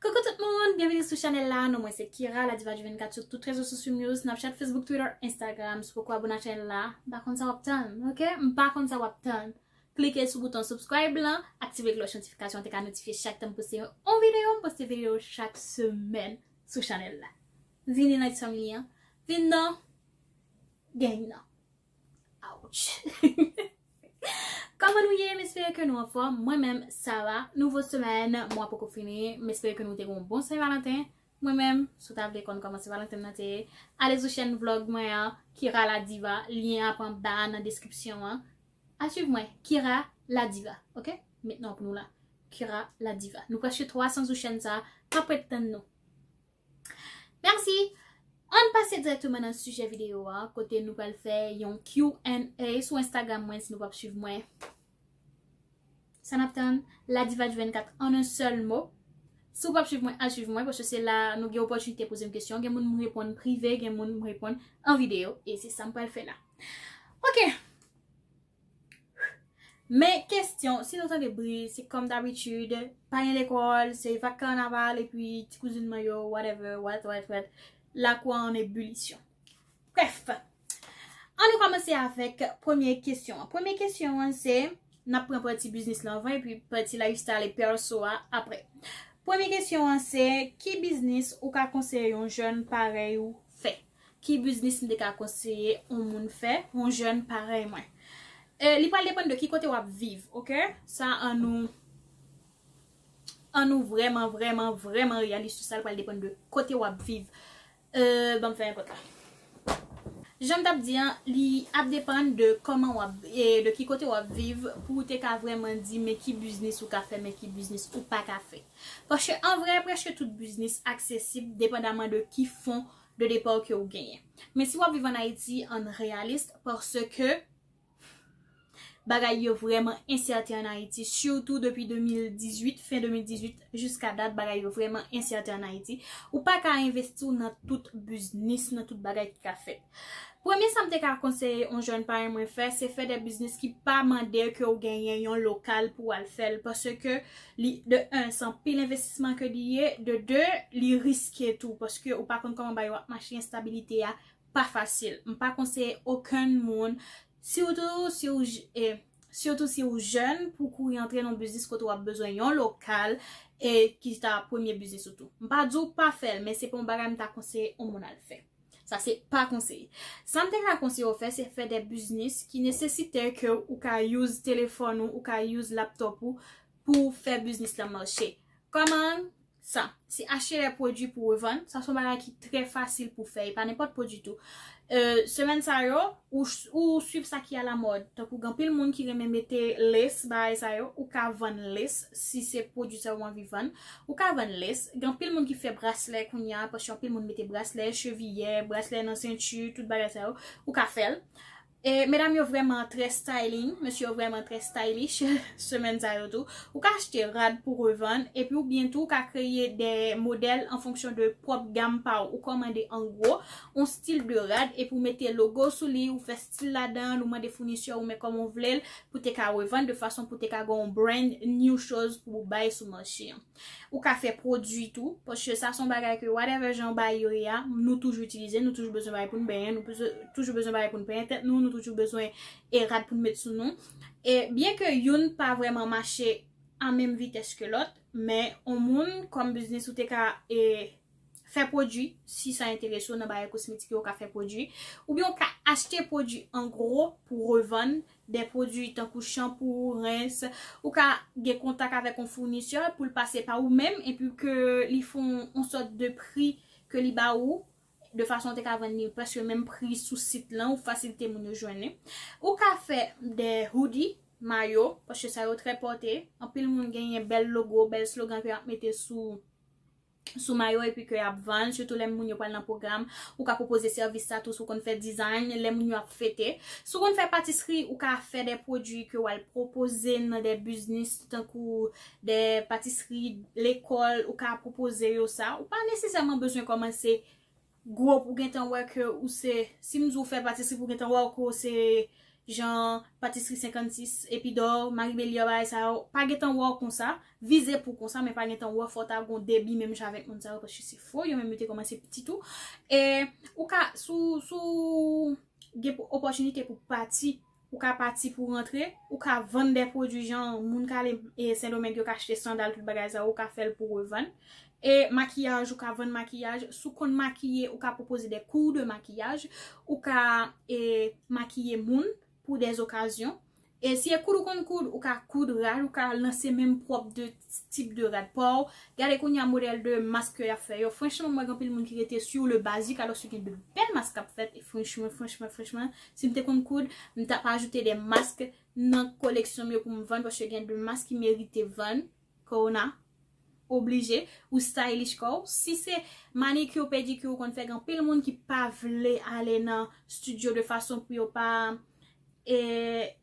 Coucou tout moun, byenveni sou chanèl la, non mwen se Kira, la diva du 24 sou tout rezo sosyom yo, Snapchat, Facebook, Twitter, Instagram, si w poko abone ak chanèl la, m pa konn sa wap tann, ok, m pa konn sa wap tann, klike sou bouton subscribe lan, aktive klòch notifikasyon an te ka notifye chak tan m poste yon on videyo, m poste videyo chak semèn sou chanèl la. Vini nan ti fanmi an, vin nan Gang nan. Ouch! Kòman nou ye? M espere ke nou anfòm. Mwen menm, sa va. Nouvo semèn, mwa poko fini. M espere ke nou te gen yon bon Sen Valanten. Mwen menm, si w ta vle konn kòman Sen Valanten m nan te ye, ale sou chèn vlòg mwen an, Kira la Diva. Lyen ap anba a nan deskripsyon an. Al suiv mwen, Kira la Diva. Ok? M met non pou nou la. Kira la Diva. Nou prèske 300 sou chèn sa a. Map ret tann nou. Merci! Ann pase dirèkteman nan sijè videyo a, kote nou pral fè yon Q&A sou Instagram mwen, si nou pap swiv mwen, sa nap tann? Ladivadj 24 an un sèl mo. Si w pap swiv mwen, al swiv mwen, paske se la nou gen opòtinite poze m kesyon, gen moun m reponn prive, gen moun m reponn an videyo, e se sa m pral fè la. Ok! Men kestyon, si nou tande bri, se kòm dabitid, pa gen lekòl, se vak kanaval epi ti kouzin mwen yo, whatever, what, what, what, lakou an an ebulisyon. Brèf, an nou kòmanse avèk premye kestyon an. Premye kestyon an se, n ap pran pati biznis lan anvan epi pati lifestyle e pèso a aprè. Premye kestyon an se, ki biznis ou ka konseye yon jèn parèy ou fè? Ki biznis m te ka konseye yon moun fè, yon jèn parèy mwen? Li pral depann de ki kote w ap viv, ok? Sa an nou An nou vrèman, vrèman, vrèman reyalis sou sa, li pral depann de kote w ap viv. Ban m fè yon pòt la. Jan m t ap di an, li ap depann de kòman w ap, de ki kote w ap viv pou ou te ka vrèman di men ki biznis ou ka fè, men ki biznis ou pa ka fè. Paske an vrè, prèske tout biznis aksesib depandaman de ki fon ou de départ ke ou genyen. Men si wap viv an Ayiti, ann reyalist parce ke bagay yo vrèman ensèten an Ayiti surtout depi 2018, fen 2018 jiska dat bagay yo vrèman ensèten an Ayiti. Ou pa ka envesti w nan tout biznis, nan tout bagay ki ka fèt. Premye sa m te ka konseye yon jèn parèy mwen fè, se fè de biznis ki pa mande ke ou genyen yon lokal pou al fè l parce ke Li de 1 se anpil envestisman ke li ye, de 2 li riske tou paske ou pa konn koman bagay yo ap mache enstabilite a pa fasil. M pa konseye okenn moun sitou si ou sitou si ou jèn pou kouri antre nan yon biznis kote wap bezwen yon lokal e ki ta premye biznis ou tou. M pa di w pa fè l men se pa yon bagay m ta konseye yon moun al fè. Sa se pa konseye. Sam te ka konseye ou fè se fè de biznis ki nesesite ke ou ka use telefon ou, ou ka use laptop ou pou fè biznis la mache. Koman? Sa. Se achte de pwodwi pou revann. Sa son bagay ki tre fasil pou fè. E pa nenpot pwodwi tou. Semen sa yo, ou swiv sa ki a la mod. Tan kou gen pil moun ki renmen mete lace bagay sa yo, ou ka vann lace si se pwodwi sa ou anvi vann. Ou ka vann lace, gen anpil moun ki fè braslè kounya paske anpil moun mete braslè, cheviyè, braslè nan sentu, tout bagay sa yo, ou ka fèl. E medam yo vrèman trè styling, mesye yo vrèman trè stylish semèn sa yo tou. Ou ka achte rad pou revann epi ou byen tou ka kreye de modèl an fonksyon de pwòp gam pa ou. Ou kòmande an gwo, on stil de rad epi ou mete logo sou li, ou fè stil ladan l ou mande founisè ou men kòman w vle l pou te ka revann de fason pou te ka gen yon brand new choz pou ou bay sou mache an ou ka fè pwodui tou paske sa son bagay ke whatever jan ou bay yo ye a nou toujou itilize nou toujou bezwen bagay pou n benyen nou toujou bezwen bagay pou n penyen tèt nou nou toujou bezwen e rad pou n met sou nou e byen ke youn pa vrèman mache a menm vitès ke lòt men yon moun kòm biznis ou te ka e. fè pwodui, si sa enterese w nan bagay kosmetik yo ou ka fè pwodui, oubyen ou ka achte pwodui an gwo pou w revann, de pwodui tankou chanpou, rens, ou ka gen kontak avèk yon founisè pou l pase pa ou menm epi ke li fè yon sòt de pri ke li ba ou de fason ou te ka vann li prèske menm pri sou sit lan ou fasilite moun yo jwenn li. Ou ka fè de hoodie, mayo, paske sa yo trè pòte, anpil moun genyen bèl logo, bèl slogan ke y ap mete sou. sou mayo epi ke yap vann sitou lè moun yo pral nan pwogram ou ka pwopoze sèvis sa tou si w konn fè design lè moun yo ap fete si w konn fè patisri ou ka fè de pwodui ke wal pwopoze nan de biznis tankou de patisri lekòl ou ka pwopoze yo sa ou pa nesesèman bezwen kòmanse Gwo pou gentan wè ke ou se si m di w fè patisri pou gentan wè w ke w se jan patisri 56 epidor mari belior bagay sa yo pa gentan wè w konsa vize pou konsa men pa gentan wè fò ta gon debi menm jan avèk moun sa yo paske se fo yo menm yo te komanse piti tou e ou ka sou sou gen opòtinite pou pati Ou ka pati pou rantre, ou ka vann dè pwodwi jan moun k ale Sendomeng yo ka achte sandal tout bagay sa yo ou ka fè l pou revann. E makiyaj ou ka vann makiyaj, si w konn makiye ou ka pwopoze dè kou de makiyaj, ou ka makiye moun pou dè okazyon. E si e koud ou konn koud, ou ka koud, ou ka lanse menm pwòp de tip de rad paw, gade kounya modèl de mask ke yap fè yo, franchman m wè gen anpil moun ki rete sur le basique alors si gen de bèl mask kap fèt e franchman franchman franchman si m te konn koud m tap ajoute de mask nan koleksyon m yo pou m vann paske gen de mask ki merite vann kouw na oblije ou stylish kouw si se manicure pedicure ou konn fè gen anpil moun ki pa vle ale nan studio de fason pou yo pa e.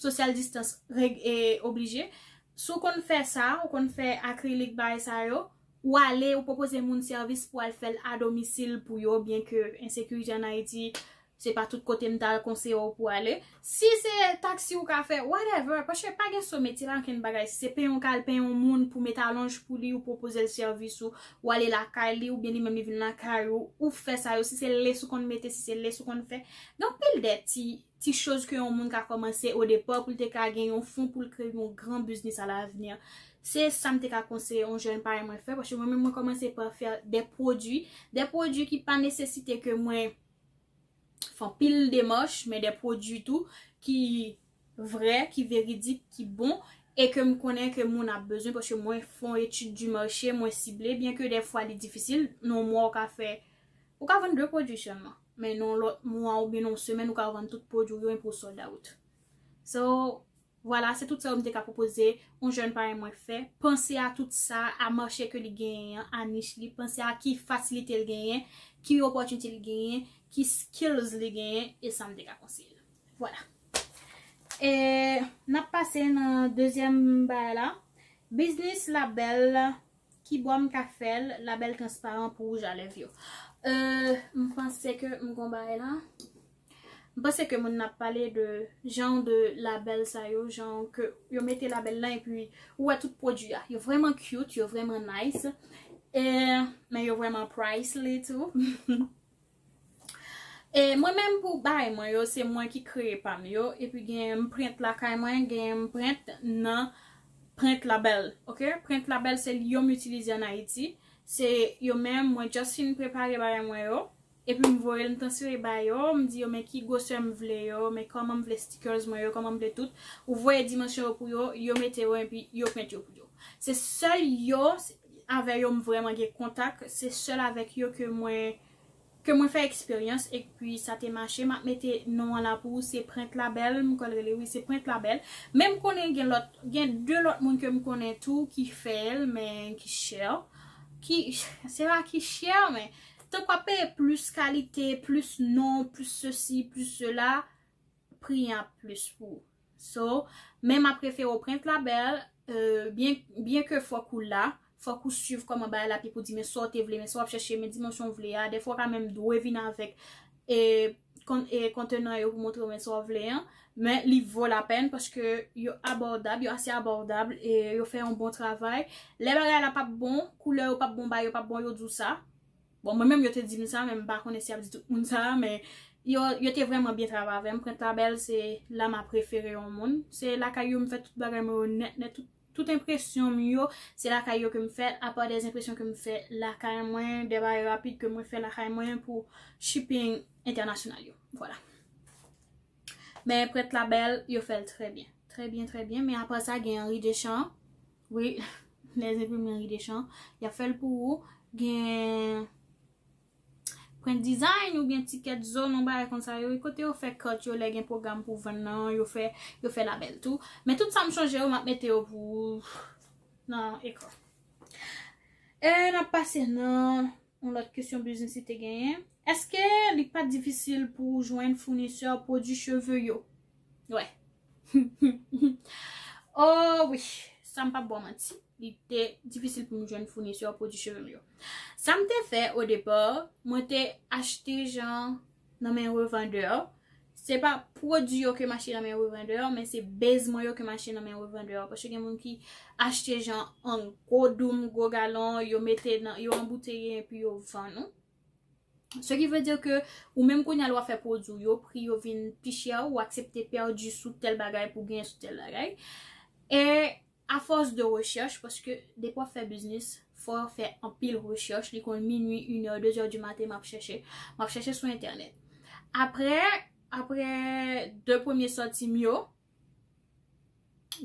Social distance reg e oblije. Si w konn fè sa, ou konn fè akrilik bagay sa yo, ou ale ou pwopoze moun sèvis pou al fè l a domisil pou yo byen ke ensekirite an Ayiti se pa tout kote m ta konseye w pou ale. Si se taksi ou ka fè, whatever, paske pa gen so metye, pa gen okenn bagay. Si se peye yon kal, peye yon moun pou met alonj pou li, ou pwopoze l sèvis ou, ou ale lakay li oubyen li menm li vin lakay ou, ou fè sa yo. Si se lès ou konn mete, si se lès ou konn fè. Gen anpil de ti Ti choz ke yon moun ka kòmanse o depa pou l te ka gen yon fon pou l kreye yon gran biznis a lavni. Se sa m te ka konseye yon jèn parèy mwen fè, paske mwen menm mwen kòmanse pa fè de pwodui, de pwodui ki pa nesesite ke mwen fè anpil demach, men de pwodui tou ki vrè, ki veridik, ki bon, e ke m konnen ke moun ap bezwen, paske mwen fè yon etid di mache, mwen sible, byen ke de fwa li difisil, nan yon mwa ou ka fè Ou ka vann 2 pwodui sèlman, men nan yon lòt mwa oubyen nan yon semèn ou ka vann tout pwodui w yo epi w sold out. So, vwala se tout sa yo m te ka pwopoze yon jèn parèy mwen fè. Panse a tout sa, a mache ke li genyen an, a nich li, panse a ki fasilite l genyen, ki opòtinite li genyen, ki skills li genyen, e sa m te ka konseye l. Vwala. E, n ap pase nan dezyèm bagay la. Biznis labèl Kibò m ka fèl label transparan pou rouj a lèv yo euh m panse ke m gon bagay la m panse ke moun nan ap pale de jan de label sa yo jan ke yo mete label lan epi ou wè tout pwodwi a yo vrèman cute yo vrèman nice euh men yo vrèman pricely tou. E mwen menm pou bagay mwen yo se mwen ki kreye pam yo epi gen m prent lakay mwen gen m prent nan prent label ok prent label se li yo m itilize an ayiti se yo menm mwen just fin prepare bagay mwen yo epi m voye l m transfere ba yo m di yo men ki gwosè m vle yo men kòman m vle stickers mwen yo kòman m vle tout ou voye dimansyon yo pou yo yo mete yo epi yo prent yo pou yo se sèl yo. avè yo m vrèman gen kontak se sèl avèk yo ke mwen ke mwen fè eksperyans e kpui sa te mache map mete non an la pou ou se prent labèl m kwè l rele wi se prent labèl men m konnen gen lòt gen de lòt moun ke m konnen tou ki fè l men ki chè ki se pa ki chè men tank wap peye plis kalite plis non plis sesi plis sela. pri an ap plus pou ou so men map refere ou prent la bel byen ke fok ou la fok ou swiv koman bagay la pi pou di men sa ou te vle men sa wap chèche men dimansyon ou vle a defwa ou ka menm dwe vin avek kontenan yo pou montre ou men sa ou vle an men li vo la pèn paske yo abòdab yo ase abòdab yo fè yon bon travay lè bagay la pap bon koulè yo pap bon bagay yo pap bon yo di ou sa. Bon mwen menm yo te dim sa men m pa konnen si y ap di tout moun sa men yo te vrèman byen travay avè m. Prent la bèl se la m aprefere yon moun. Se lakay yo m fè tout bagay mwen yo nèt nèt tout enpresyon m yo se lakay yo ke m fè apa de enpresyon ke m fè lakay mwen de bagay rapid ke mwen fè lakay mwen pou shipping entènasyonal yo. Vwala. Men prent la bèl yo fè l trè byen. Trè byen trè byen men apa sa gen Henri Deschamps. Wi les imprimeries Deschamps yap fèl pou ou gen Print design ou byen ticket zone yon bagay konsa yo wi kote yo fè carte yo lè gen program pou vann nan yo fè yo fè label tou men tout sam chanje yo map mete yo pou ou nan ekran. E nap pase nan. Yon lòt kesyon biznis li te genyen. Eske li pa t difisil pou ou jwenn founisè pwodui cheve yo? Wè. O wi! San m pap ba w manti, li te difisil pou m jwenn founisè pwodui cheve m yo. Sa m te fè o depa, mwen te achte jan nan men revandè yo, se pa pwodui yo ke m achte nan men revandè yo, men se base mwen yo ke m achte nan men revandè yo, paske gen moun ki achte jan an gwo doum, gwo galon, yo mete nan, yo anbouteye epi yo vann ou. Se ki vle di ke ou menm kounye a lè w ap fè pwodui ou yo, pri yo vin pi chè, ou aksepte pèdi sou tèl bagay pou genyen sou tèl bagay. E A force de recherche paske depi wap fè biznis fòw fè anpil recherche li konn minwi une heure deux heures du matin map chèche map chèche sou entènèt aprè aprè de premye sòtim yo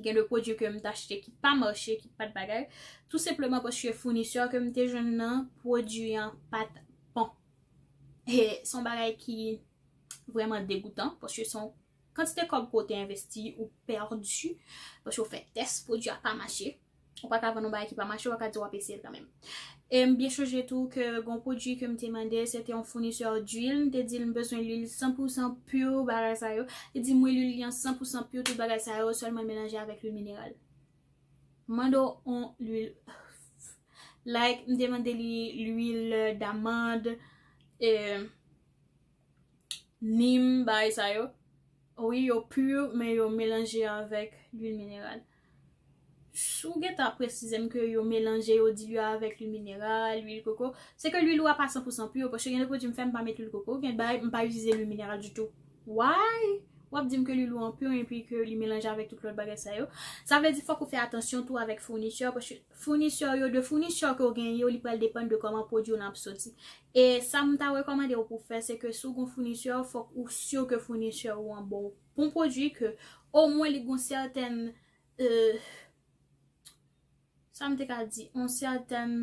gen de pwodui kem t achte ki pa mache ki pat bagay tou senpleman paske founisè kem te jwenn nan pwodui an pat bon e son bagay ki vrèman degoutan paske son Kantite kòb ke w te envesti ou pèdi paske w fè tès pwodui a pa mache. Ou pa ka vann yon bagay ki pa mache, wap ka di wap eseye l kanmenm. E m byen sonje tou ke gon pwodui ke m te mande, se te yon founisè d'huile, m te di l m bezwen l'huile 100 pou 100 pur bagay sa yo. Li di m wi l'huile li an 100 pou 100 pur tout bagay sa yo, sèlman l melanje avèk l'huile mineral. M mande w yon l'huile like m te mande li l'huile d'amande e. nim bagay sa yo wi yo pur men yo melanje avèk lwil mineral si w gentan ap presize m ke yo melanje yo dilye avèk lwil mineral lwil koko se ke lwil ou a pa 100 pou 100 pur paske gen de pwodui m fè m pa met lwil koko gen de bagay m pa itilize lwil mineral ditou why w ap di m ke lwil ou an pur epi ke li melanje avèk tout lòt bagay sa yo sa vle di fòk ou fè atansyon tou avèk fournisseur paske Founisè w yo, de founisè ke w genyen yo, li pral depann de kòman pwodwi w lan ap soti. E sa m ta rekòmande w pou w fè, se ke si w gen yon founisè, fòk ou si ke founisè ou an ba w bon pwodwi, ke omwen li gen yon sètèn, sa m te ka di, yon sètèn.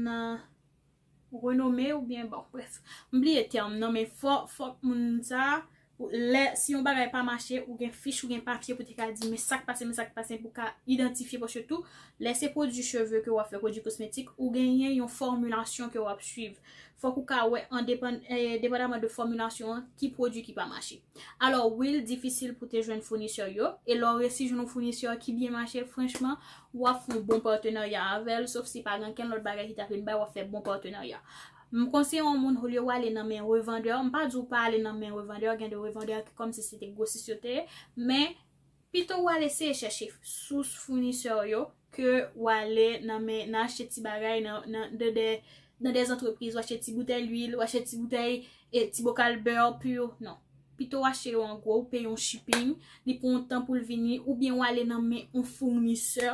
Renome ou byen bon bref. M bliye term nan men fò fòk moun sa lè si yon bagay pa mache ou gen fich ou gen papye pou te ka di men sak pase men sak pase pou ka idantifye paske tou lè se pwodui cheve ke wap fè pwodui kosmetik ou genyen yon fòmilasyon ke wap swiv fòk ou ka wè an depan depadaman de fòmilasyon an ki pwodui ki pa mache. Alò wi l difisil pou te jwenn founisè yo, e lè w resi jwenn yon founisè ki byen mache, franchman, w ap fè yon bon patenarya avè l, sof si pa gen ankenn lòt bagay ki ta vin bay, w ap fè bon patenarya. M konseye yon moun olye w ale nan men revandè, m pa di w pa ale nan men revandè, gen de revandè ki kòmsi se te gwosis yo te ye, men Pito ou al eseye chèche sous founisè w yo ke ou ale nan men nan achte ti bagay nan nan dè antrepriz ou achte ti boutèy lwil ou achte ti boutèy e ti bokal bè pu non pito ou achte yo an gwo ou peye yon shiping li pran yon tan pou l vini oubyen ou ale nan men yon founisè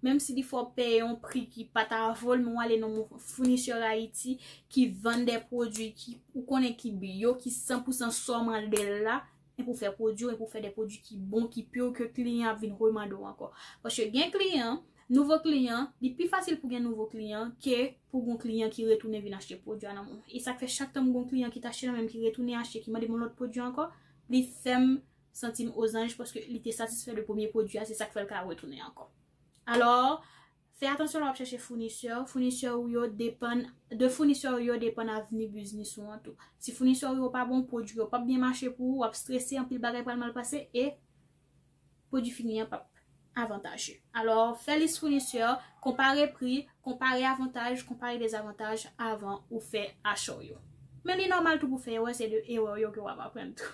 menm si li fè w peye yon pri ki pa ta vo l men ou ale nan men founisè ayiti ki vann dè pwodui ki ou konnen ki bio ki san pou san sa w mande l la. e pou fè pwodwi ou e pou fè de pwodwi ki bon, ki pur, ke kliyan ap vin remande w ankò. Paske gen kliyan, nouvo kliyan, li pi fasil pou gen nouvo kliyan ke pou gon kliyan ki retounen vin achte pwodwi a nan menw. E sak fè chak tan m gon kliyan ki t achte nan menm ki retounen achte, ki mande m yon lòt pwodwi ankò, li fè m santi m ozanj paske li te satisfè de premye pwodwi a, se sak fè l ka retounen ankò. Alò, Fè atansyon lè w ap chèche founisè, founisè ou yo depann, de founisè ou yo depann avni biznis ou an tou. Si founisè ou yo pa bon, pwodui yo pap byen mache pou ou, wap strese, anpil bagay pral mal pase e pwodui fini an pap avantaje. Alò, fè lis founisè, konpare pri, konpare avantaj, konpare dezavantaj avan ou fè acha w yo. Men li nòmal tou pou fè erè, se de erè w yo ke wap aprann tou.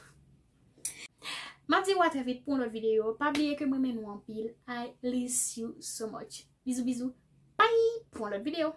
Map di ou a trè vit pou yon lòt videyo. Pa bliye ke m renmen nou anpil. I liss you so much. Bizou bizou. Bye pou yon lòt videyo.